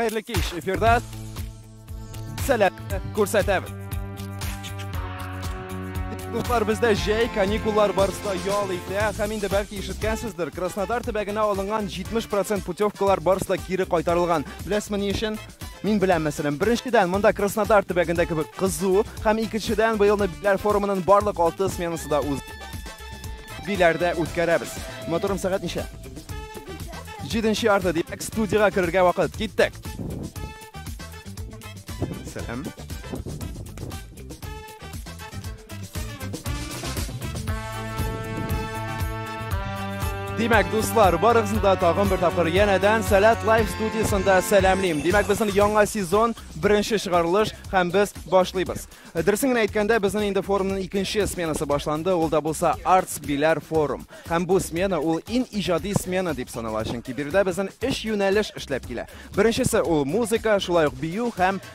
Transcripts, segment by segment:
Хәерле кич, эфирда сәләт күрсәтәбез. Дуслар бездә җәй каникуллар барысында ял итә, һәм инде бәлки ишеткәнсездер, Краснодар төбәгенә алынган 70% путевкалар барысында кире кайтарылган. Беләсезме ни өчен? Мин белән мәсәлән, беренчедән, монда Краснодар төбәгендә кебек кызу, һәм икенчедән, быелны битләр форумының барлык алты сменасы да үз биләрдә үткәрәбез. Моторым сәгать ничә? Җиденче ярты, димәк, студиягә керергә вакыт. Киттек! Сәлам. Димәк, дуслар, барыгызны да тагын бер тапкыр янәдән Сәләт Лайф студиясендә сәламлим. Димәк, безнең яңа сезон, беренче чыгарылыш һәм без башлыйбыз. Дөресен генә әйткәндә, безнең инде форумның икенче сменасы башланды, ул да булса Arts Bilar Forum. Һәм бу смена ул ин иҗади смена дип санала, чөнки биредә безнең өч юнәлеш эшләп килә. Беренчесе ул музыка, шулай ук бию һәм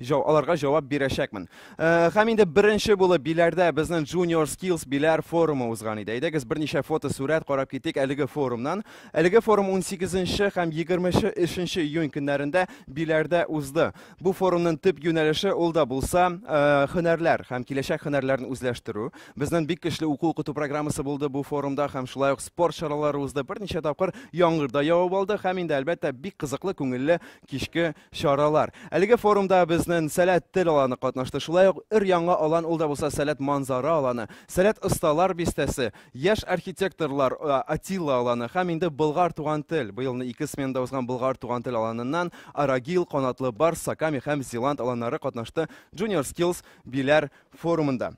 җа, аларга җавап бирәчәкмен. Э, һәм инде беренче булып Биләрдә безнең Junior Skills Биләр форумы узган иде. Әйдәгез берничә фото сурәт карап китик әлеге форумнан. Әлеге форум 18 һәм 23 июнь көннәрендә Биләрдә узды. Бу форумның төп юнәлеше ул да булса э, һөнәрләр һәм киләчәк һөнәрләрен үзләштерү. Безнең бик көчле уку укыту программасы булды бу форумда һәм шулай ук спорт чаралары узды. Берничә тапкыр яңгыр да явып алды һәм инде әлбәттә бик кызыклы күңелле кичке Чаралар. Әлеге форумда безнен Сәләт тел аланы катнашты, шулай ук өр-яңа алан ул да булса Сәләт манзара аланы, Сәләт осталар бистәсе, яшь архитекторлар Атилла аланы һәм инде Болгар туган тел, быелны ике сменада узган Болгар туган тел аланыннан Арагил, Канатлы барс, Саками һәм Зеланд аланнары катнашты Junior Skills Биләр форумында.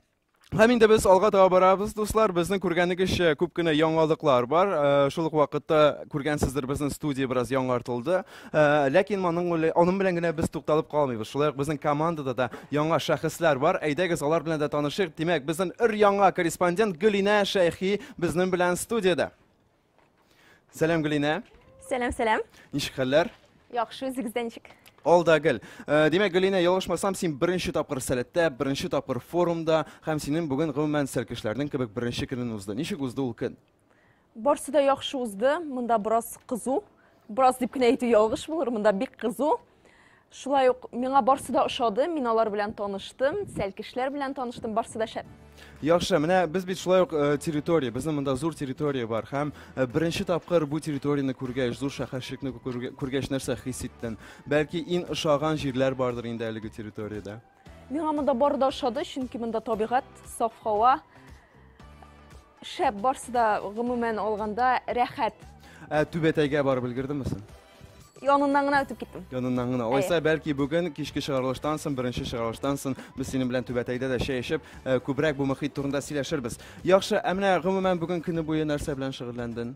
Һәм инде без алга таба барабыз, дуслар. Безнең күргәнегезчә күп кенә яңалыклар бар. Э, шул ук вакытта күргәнсездер, безнең студия бераз яңартылды. Э, ләкин моның аның белән генә без тукталып калмыйбыз. Шулай ук безнең командада да яңа шәхесләр бар. Әйдәгез, алар белән дә танышыйк. Димәк, безнең өр яңа корреспондент Гөлинә Шәйхи безнең белән студиядә. Сәлам, Гөлинә. Сәлам, сәлам. Ничек хәлләр? Яхшы, үзегездә ничек? Алда гел. Э, Димәк, Гөлинә, ялгышмасам, син беренче тапкыр сәләттә, беренче тапкыр форумда һәм синең бүген гомумән сәлкешләрнең кебек беренче көнен узды. Ничек узды ул көн? Барсы да яхшы узды. Монда бераз кызу. Бераз дип кенә әйтү ялгыш булыр. Монда бик кызу. Шулай ук миңа барсы да ошады, мин алар белән таныштым, сәлкешләр белән таныштым, барсы да шәп. Яхшы, менә без бит шулай ук э, территория, безнең монда зур территория бар һәм э, беренче тапкыр бу территорияне күргәч, зур шәһәрчекне күргәч нәрсә хис иттең? Бәлки иң ошаган җирләр бардыр инде әлеге территориядә? Миңа монда бары да ошады, чөнки монда табигать, саф һава, Шәп, барсы да гомумән алганда рәхәт. Ә түбәтәйгә барып өлгердеңме син? Яныннан гына үтеп киттем. Яныннан гына. Алайса, бәлки бүген кичке чыгарылыштан соң, беренче чыгарылыштан соң без синең белән түбәтәйдә дә чәй эчеп, э, күбрәк бу мөхит турында сөйләшербез. Яхшы, ә менә гомумән бүген көне буе нәрсә белән шөгыльләндең?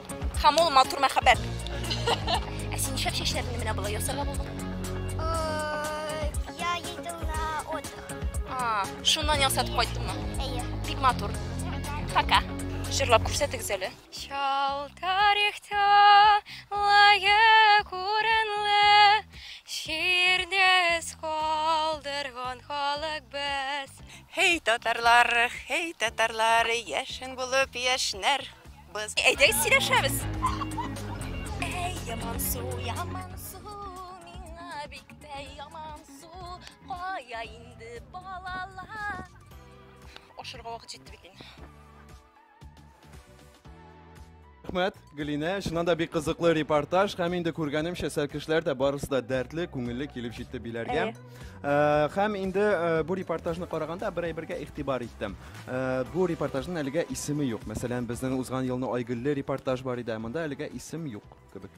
Һәм ул матур мәхәббәт. Ә син нишләп чәчләреңне менә болай ясарга булдың? Я ездил на отдых. А, шуннан ясатып кайттыңмы? Әйе. Бик матур. Пока. Җырлап күрсәтегез әле. Чал тарихта лаек урынлы ширдес калдырган халык без. Хей татарлар, хей татарлар, яшен булып яшнәр. Без әйдәгез сөйләшәбез. Әй, яман су, яман су, миңа бик тә яман су. Кая инде балалар? Ашырга вакыт җитте бит инде. Рәхмәт, Гөлинә. Чыннан да бик кызыклы репортаж һәм инде күргәнемчә, сәлкешләр дә барысы да дәртле, күңелле килеп җитте биләргә. Э, һәм инде э, бу репортажны караганда бер әйбергә игътибар иттем. Э, бу репортажның әлегә исеме юк. Мәсәлән, безнең узган елны Айгөлле репортаж бар иде, ә монда әлегә исем юк кебек.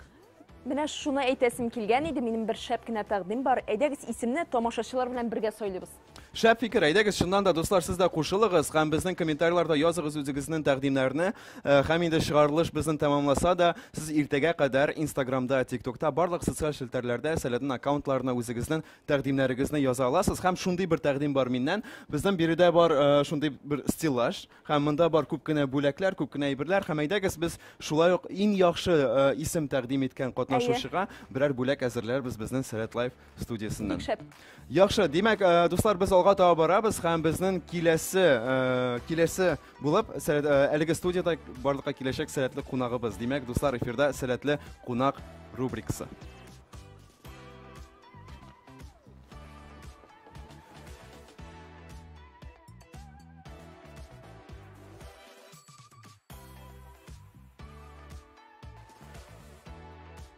Менә шуны әйтәсем килгән иде, минем бер шәп кенә тәкъдим бар. Әйдәгез исемне тамашачылар белән бергә сайлыйбыз. Шәп фикер, әйдәгез, чыннан да, дуслар, сез дә кушылыгыз һәм безнең комментарийларда языгыз үзегезнең тәкъдимнәрне. Һәм инде чыгарылыш безнен тәмамласа да, сез иртәгә кадәр инстаграмда, тиктокта, барлык социаль челтәрләрдә Сәләтнең аккаунтларына үзегезнен тәкъдимнәрегезне яза аласыз. Һәм шундый бер тәкъдим бар миннән, безнен биредә бар шундый бер стеллаж, һәм монда бар күп кенә бүләкләр, күп кенә әйберләр, һәм әйдәгез без шулай ук иң яхшы исем тәкъдим иткән катнашучыга берәр бүләк әзерләрбез безнен Сәләт Лайф студиясеннән. Бик шәп. Яхшы, димәк, э, дуслар, без алга таба барабыз һәм безнең киләсе, э, киләсе булып сәләт, э, әлеге студияда барлыкка киләчәк сәләтле кунагыбыз. Димәк, дуслар, эфирда сәләтле кунак рубрикасы.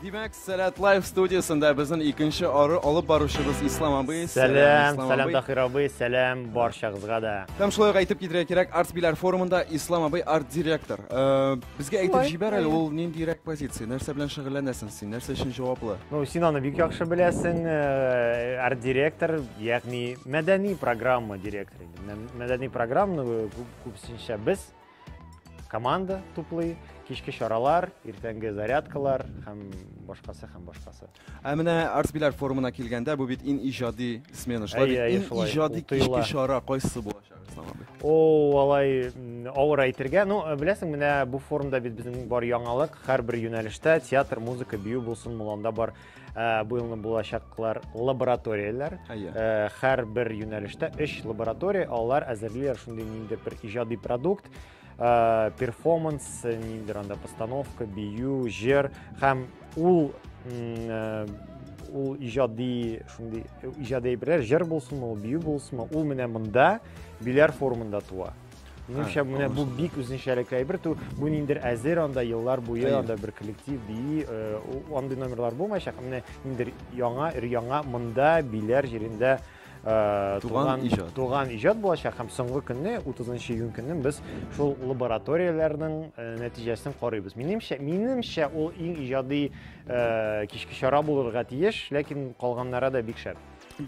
Димәк, Сәләт Лайф студиясендә безнең икенче ары алып баручыбыз Ислам абый. Сәлам, сәлам Дахир абый, сәлам барчагызга да. Һәм шулай әйтеп китергә кирәк, Арт Биләр форумында Ислам абый арт-директор. Э, безгә әйтеп җибәр әле, ул ниндирәк позиция? Нәрсә белән шөгыльләнәсең син? Нәрсә өчен җаваплы? Ну, син аны бик яхшы беләсең, э, арт-директор, ягъни мәдәни программа директоры. Мәдәни программаны күпсенчә без команда туплый, кичке чаралар, иртәнге зарядкалар һәм башкасы һәм башкасы. Ә менә Арсбилар форумына килгәндә, бу бит ин иҗади смена, шулай бит ин иҗади кичке чара кайсы булачак? О, алай авыр әйтергә. Ну, э, беләсең, менә бу форумда бит безнең бар яңалык, һәрбер юнәлештә театр, музыка, бию булсын, муланда бар Ә, бу елны булачаклар лабораторияләр. Әйе. Ә, һәр бер юнәлештә өч лаборатория, алар әзерлиләр шундый ниндидер бер иҗади продукт, ә, перформанс, ниндидер анда постановка, бию, җыр һәм ул м, ә, ул иҗади шундый иҗади әйберләр, җыр булсынмы, ул бию булсынмы, ул менә монда биләр формында туа. Минемчә, Һәм, менә бу анысы да. бик үзенчәлекле әйбер. Ту- Бу ниндер әзер анда еллар буе Әйе. анда бер коллектив бии, э, у- андый номерлар булмаячак. Менә ниндер яңа, өр-яңа монда биләр җирендә э, Туган иҗат. туган иҗат булачак һәм соңгы көнне 30 июнь көнне без шул лабораторияләрнең э, нәтиҗәсен карыйбыз. Минемчә, минемчә ул иң иҗади э, кичке чара булырга тиеш, ләкин калганнары да бик шәп.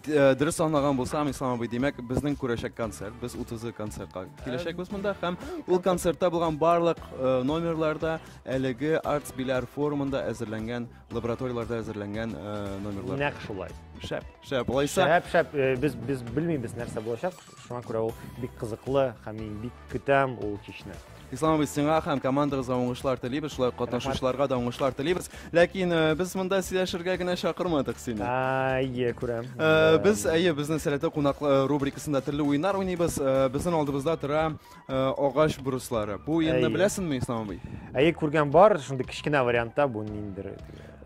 Э, дөрес аңлаган булсам, Ислам абый, димәк, безнең күрәчәк концерт, без 30 концертка киләчәкбез монда һәм ул концертта булган барлык э, номерларда әлеге Arts Bilar форумында әзерләнгән, лабораторияләрдә әзерләнгән э, номерлар. Нәкъ шулай. Шәп, шәп. Алайса, Шәп, шәп. Без без белмибез нәрсә булачак. Шуңа күрә ул бик кызыклы һәм мин бик көтәм ул кичне. Ислам абый, сиңа һәм командагызга уңышлар телибез, шулай катнашучыларга да уңышлар телибез. Ләкин э, без монда сөйләшергә генә чакырмадык сине. Әйе, күрәм. Э, без әйе, безнең сәләтле кунак э, рубрикасында төрле уеннар уйныйбыз. Э, безнең алдыбызда тора э, агач бруслары. Бу инде Әйе. беләсеңме, Ислам абый? Әйе, күргән бар, шундый кечкенә вариантта бу ниндер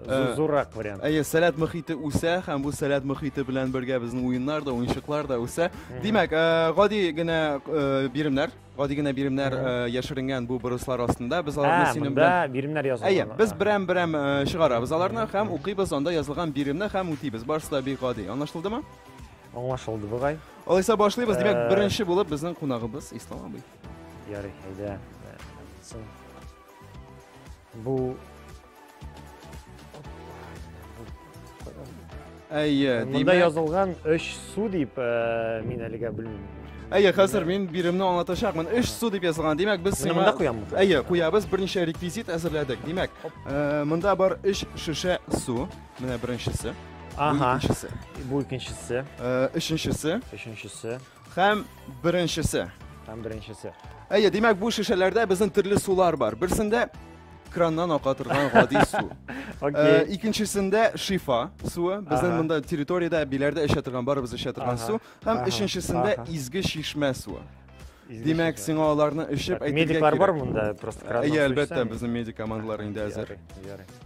Э, зуррак вариант әйе сәләт мөхите үсә һәм бу сәләт мөхите белән бергә безнең уеннар да уенчыклар да үсә димәк э, гади генә э, биремнәр гади генә биремнәр яшеренгән бу бырыслар астында без аларны ә, синең белән биремнәр язылган әйе без берәм берәм чыгарабыз аларны һәм укыйбыз анда язылган биремне һәм үтибез барысы да бик гади аңлашылдымы Аңлашылды бугай. Алайса башлыйбыз. Димәк, э, беренче булып безнең кунагыбыз Ислам абый. Ярый, әйдә. Соң бу Әйе, димәк. Монда язылган 3 су дип э, мин әлегә белмим. Әйе, хәзер мин биремне аңлатачакмын. Өч су дип язылган. Димәк, без сиңа монда куямбыз. Әйе, куябыз. Берничә реквизит әзерләдек. Димәк, э, монда бар өч шешә су. Менә беренчесе. Ага. Икенчесе. Бу икенчесе. Э, өченчесе. Өченчесе. Һәм беренчесе. Һәм беренчесе. Әйе, димәк, бу шешәләрдә безнең төрле сулар бар. Берсендә краннан ака торган гади су. Э, икенчесендә шифа суы, безнең монда территориядә, биләрдә эчә торган, барыбыз эчә торган су, һәм өченчесендә изге чишмә суы. Димәк, сиңа аларны эчеп әйтергә кирәк. Медиклар бар монда, просто краннан Әйе, әлбәттә, безнең медик командалар инде әзер.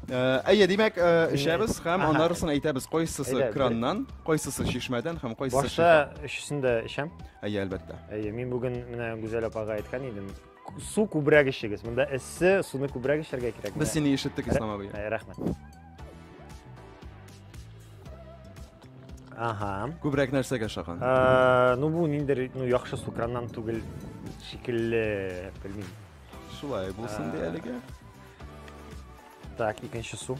Әйе, димәк, эчәбез һәм анарысын әйтәбез, кайсысы краннан, кайсысы чишмәдән һәм кайсысы Башта өчесен дә эчәм. Әйе, әлбәттә. Әйе, мин бүген менә Гүзәл апага әйткән идем, су күбрәк эчегез. Монда эссе, суны күбрәк эчәргә кирәк. Без сине ишеттек, Ислам абый. Рәхмәт. Ага. Күбрәк нәрсәгә шаган? Ә, ну бу ниндер, ну яхшы су краннан түгел шикелле, белмим. Шулай булсын ди әлегә. Так, икенче су.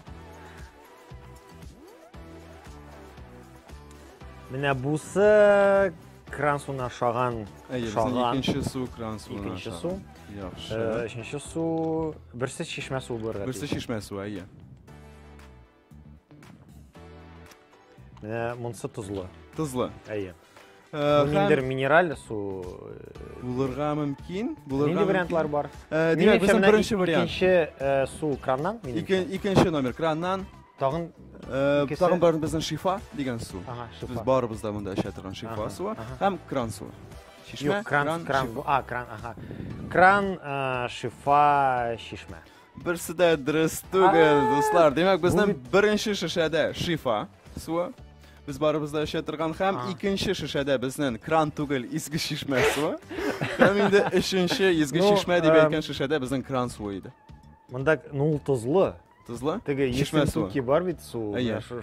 Менә бусы кран суына шаган. Әйе, шаган. Икенче су кран суына. Икенче су. Яхшы. Э, өченче су, берсе чишмә суы булырга. Берсе чишмә суы, әйе. Менә монсы тозлы. Тозлы. Әйе. Э, Миндер минераль су. Э, булырга мөмкин. Булырга Нинди вариантлар бар? Э, димәк, безнең беренче вариант. Икенче су краннан. Икенче номер краннан. Тагын тагын бар безнең шифа дигән су. Без барыбыз да монда эчә торган шифа суы һәм кран суы. Чишмә, кран, кран, а, кран, ага. Кран, шифа, чишмә. Берсе дә дөрес түгел, дуслар. Димәк, безнең беренче шешәдә шифа суы. Без барыбыз да эчә торган һәм икенче шешәдә безнең кран түгел, изге чишмә суы. Һәм инде өченче изге ну, чишмә дип әйткән шешәдә безнең кран суы иде. Монда ну ул тозлы. Тозлы? Теге чишмә суы. Ки бар бит су,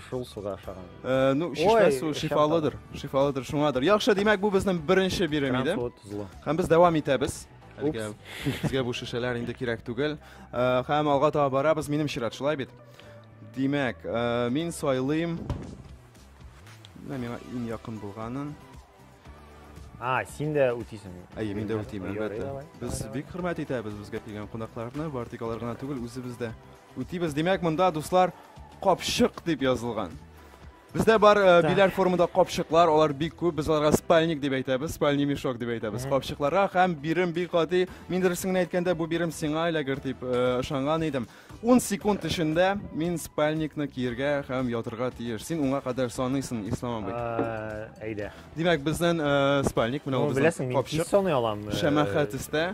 шул суга ашаган. Э, ну, чишмә суы шифалыдыр. Шифалыдыр, шуңадыр. Яхшы, димәк, бу безнең беренче бирем иде. Һәм без дәвам итәбез. Әлегә безгә бу шешәләр инде кирәк түгел. Э, һәм алга таба барабыз, минем чират, шулай бит? Димәк, э, мин сайлыйм. Менә миңа иң якын булганын. А, син дә үтисең. Әйе, мин дә үтим, әлбәттә. Без бик хөрмәт итәбез безгә килгән кунакларны, бар тик алар гына түгел, үзебез дә үтибез. Димәк, монда дуслар капчык дип язылган. Бездә бар э, Так. биләр формында капчыклар, алар бик күп. Без аларга спальник дип әйтәбез, спальный мешок дип әйтәбез. Капчыкларга һәм бирем бик гади. Мин дөресен генә әйткәндә, бу бирем сиңа эләгер дип э, ышанган идем. 10 секунд эчендә мин спальникны киергә һәм ятырга тиеш. Син уңа кадәр саныйсың, Ислам абый. Э, Әйдә. Димәк, безнең э, спальник менә Ну, ул безнең беләсең, мин тиз капчык. саный алам. э, Шәмәхә төстә.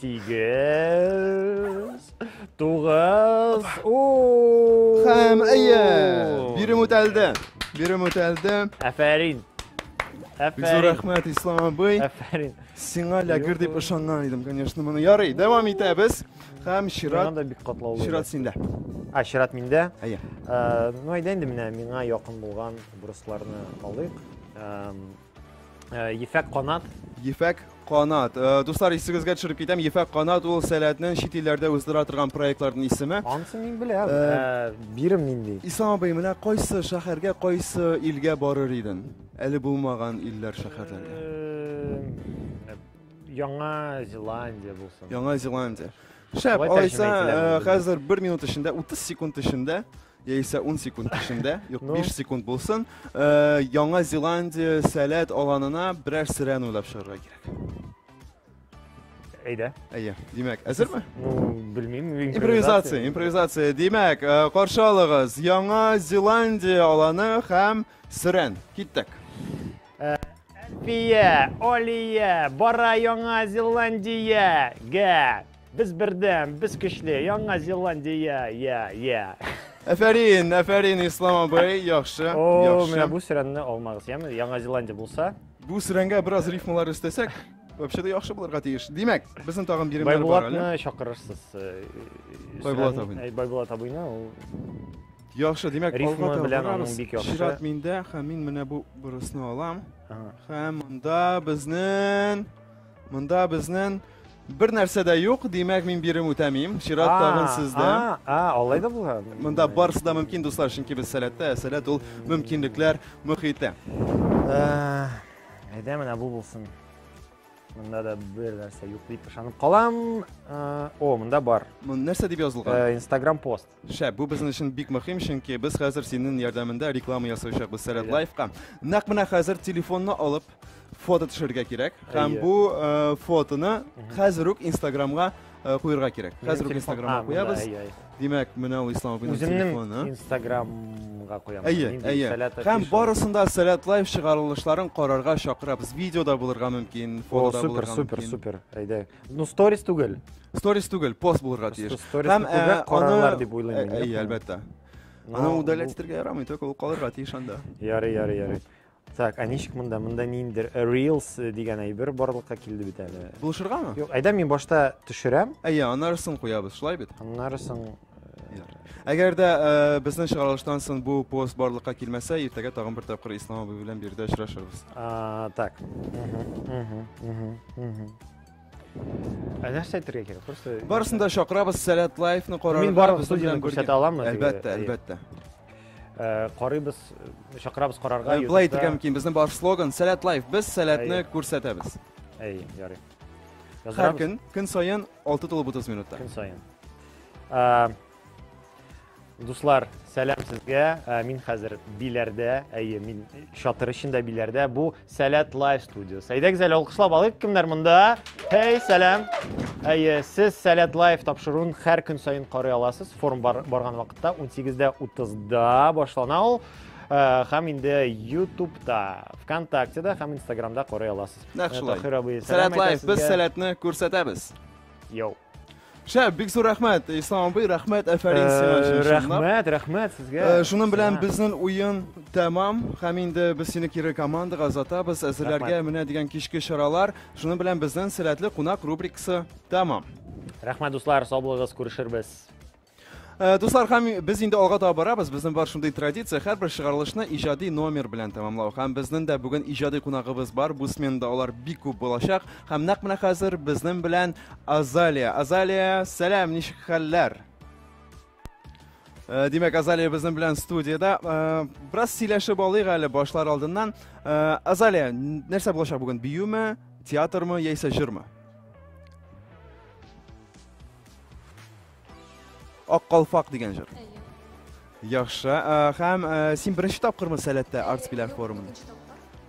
Сигез. Тугыз. Хәм, әйе. Бирем үтәлде. Бирем үтәлде. Әфәрин. Бик зур рәхмәт, Ислам абый. Әфәрин. Сиңа ләгер дип ышанган идем, конечно, моны. Ярый, дәвам итәбез. Хәм чират. Монда бик катлаулы. Чират синдә. А, чират миндә. Әйе. Э, ну, әйдә инде менә миңа якын булган бурысларны алыйк. Э, Э, ефәк канат. Ефәк канат. Э, дуслар, исегезгә төшереп китәм, Ефәк канат ул сәләтнең чит илләрдә үстерә торган проектларның исеме. Ансы мин беләм. Э, бирем нинди? Ислам абый, менә кайсы шәһәргә, кайсы илгә барыр идең? Әле булмаган илләр, шәһәрләргә. Яңа Зеландия булсын. Яңа Зеландия. Шәп, алайса, хәзер бер минут эчендә, 30 секунд эчендә яисә ун секунд эчендә, юк, Ну. биш секунд булсын, э, Яңа Зеландия сәләт аланына берәр сөрән уйлап чыгарга кирәк. Әйдә. Әйе, димәк, әзерме? Ну, белмим. Импровизация, импровизация. Димәк, э, каршы алыгыз, Яңа Зеландия аланы һәм сөрән. Киттек. Әлфия, Алия, бара Яңа Зеландия, гә. Без бердәм, без көчле, Яңа Зеландия, я, я. Әфәрин, әфәрин, Ислам абый, яхшы, О, яхшы. менә бу сөрәнне алмагыз, яме? Яңа Зеландия булса. Бу сөрәнгә бераз рифмалар өстәсәк, вообще да яхшы булырга тиеш. Димәк, безнең тагын биремнәр бар әле. Байбулатны чакырырсыз. Э, Байбулат абыйны. Э, Байбулат абыйны, ул Яхшы, димәк, Рифма алга белән аның бик яхшы. Чират миндә, һәм мин менә бу бурысны алам. Һәм монда безнең Монда безнен бер нәрсә дә юк, димәк мин бирем үтәмим. Чират тагын сездә. А, а, алай да була. Монда барысы да мөмкин, дуслар, чөнки без сәләттә, ә сәләт ул мөмкинлекләр мөхите. Э, әйдә менә бу булсын. Монда да бер нәрсә юк дип ышанып калам. Э, о, монда бар. Нәрсә дип язылган? Э, Instagram пост. Шәп, бу безнең өчен бик мөһим, чөнки без хәзер синең ярдәмендә реклама ясаячакбыз Сәләт Лайфка. Нәкъ менә хәзер телефонны алып фото төшерергә кирәк һәм бу э, фотоны хәзер үк Инстаграмга э, куярга кирәк. Хәзер үк Инстаграмга куябыз. Димәк, менә ул Ислам абыйның телефоны. Инстаграмга куябыз. Әйе, әйе. Һәм барысында Сәләт Лайф чыгарылышларын карарга чакырабыз. Видеода булырга мөмкин, фотода булырга мөмкин. Супер, супер, супер. Әйдә. Ну, сторис түгел. Сторис түгел, пост булырга тиеш. Сторис Һәм, күбрәк э, карарлар аны- дип уйлыйм мин, Э, Әйе, яхшы. әлбәттә. Ну, Аны бу- удалять итәргә ярамый, только ул калырга тиеш анда. Ярый, ярый, ярый. Так, ә ничек монда? Монда ниндер э, Reels э, дигән әйбер барлыкка килде бит әле. Булышыргамы? Юк, әйдә мин башта төшерәм, Әйе, аннары сон куябыз, шулай бит? аннары соң Әгәр дә э, безнең чыгарылыштан соң бу пост барлыкка килмәсә, иртәгә тагын бер тапкыр Ислам абый белән биредә очрашырбыз. А, так. Ә нәрсә әйтергә кирәк? Просто Барысын да чакырабыз, Сәләт лайфны карарга. Мин барлык безнең студияне белән бергә. күрсәтә аламмы? Әлбәттә, Әйе. әлбәттә. Э, Карыйбыз, э, чакырабыз карарга. Э, Былай итергә мөмкин, безнең бар слоган Сәләт лайф. Без сәләтне Әйе. күрсәтәбез. Әйе, ярый. Һәр Яздырабыз көн, көн саен 6 тулып 30 минутта. көн саен. Дуслар, сәлам сезгә. Ә, мин хәзер биләрдә, әйе, мин чатыр эчендә биләрдә. Бу Сәләт Лайв студиясе. Әйдәгез әле алкышлап алыйк, кемнәр монда? Хей, сәлам. Әйе, сез Сәләт Лайв тапшыруын һәр көн саен карый аласыз. Форум бар, барган вакытта 18-дә 30-да башлана ул. Ә, һәм инде Ютубта, ВКонтактеда һәм Инстаграмда карый аласыз. Нәкъ шулай. Ә, Таһир абый, Сәләт сәлам Лайф, әйтәсезгә. без сәләтне күрсәтәбез. Йоу. Шәп, бик зур рәхмәт, Ислам абый, рәхмәт, әфәрин сиңа өчен. Рәхмәт, рәхмәт сезгә. Шуның белән безнең уен тәмам, һәм инде без сине кире командага озатабыз, әзерләргә менә дигән кичке чаралар. Шуның белән безнең сәләтле кунак рубрикасы тәмам. Рәхмәт, дуслар, сау булыгыз, күрешербез. Э, дуслар һәм без инде алга таба барабыз безнең бар шундый традиция һәрбер чыгарылышны иҗади номер белән тәмамлау һәм безнең дә бүген иҗади кунагыбыз бар бу сменада алар бик күп булачак һәм нәкъ менә хәзер безнең белән азалия азалия сәлам ничек хәлләр э, Димәк, Азалия безнең белән студияда. Э, бераз сөйләшеп алыйк әле башлар алдыннан. Азалия, нәрсә булачак бүген? Биюме, театрмы яисә җырмы? Ак калфак дигән җыр. Яхшы. Э, һәм э, син беренче тапкырмы Сәләттә арт биләр форумын?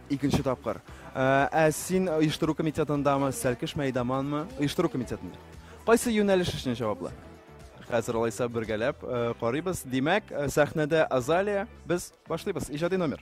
Икенче тапкыр. Э, ә син оештыру комитетындамы, Сәлкеш мәйдаманмы? Оештыру комитетында. Кайсы юнәлеш өчен җаваплы? Хәзер алайса бергәләп карыйбыз. Димәк, сәхнәдә Азалия, без башлыйбыз. Иҗади номер.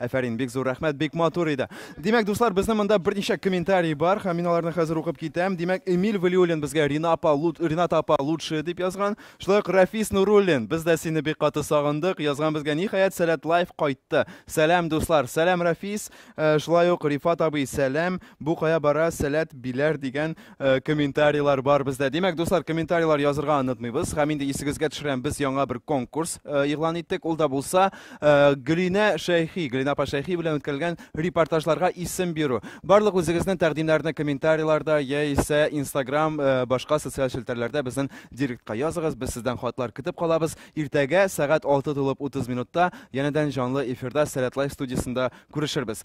Әфәрин, бик зур рәхмәт, бик матур иде. Димәк, дуслар, безнең монда берничә комментарий бар, һәм мин аларны хәзер укып китәм. Димәк, Эмиль Валиуллин безгә Рина апа, Рината апа лучшие дип язган. Шулай ук Рафис Нуруллин, без дә сине бик каты сагындык, язган безгә. Ниһаять, Сәләт Лайф кайтты. Сәлам, дуслар. Сәлам, Рафис. Э, шулай ук Рифат абый, сәлам. Бу кая бара, сәләт, биләр дигән комментарийлар бар бездә. Димәк, дуслар, комментарийлар язырга онытмыйбыз. Һәм инде исегезгә төшерәм, без яңа бер конкурс игълан иттек. Ул да булса, Гөлинә Шәйхи, Гөлинә апа Шәйхи белән үткәрелгән репортажларга исем бирү. Барлык үзегезнең тәкъдимнәрне комментарийларда яисә Instagram, башка социаль челтәрләрдә безнең директка языгыз. Без сездән хатлар көтеп калабыз. Иртәгә сәгать 6 тулып 30 минутта янәдән җанлы эфирда Сәләтлайф студиясендә күрешербез.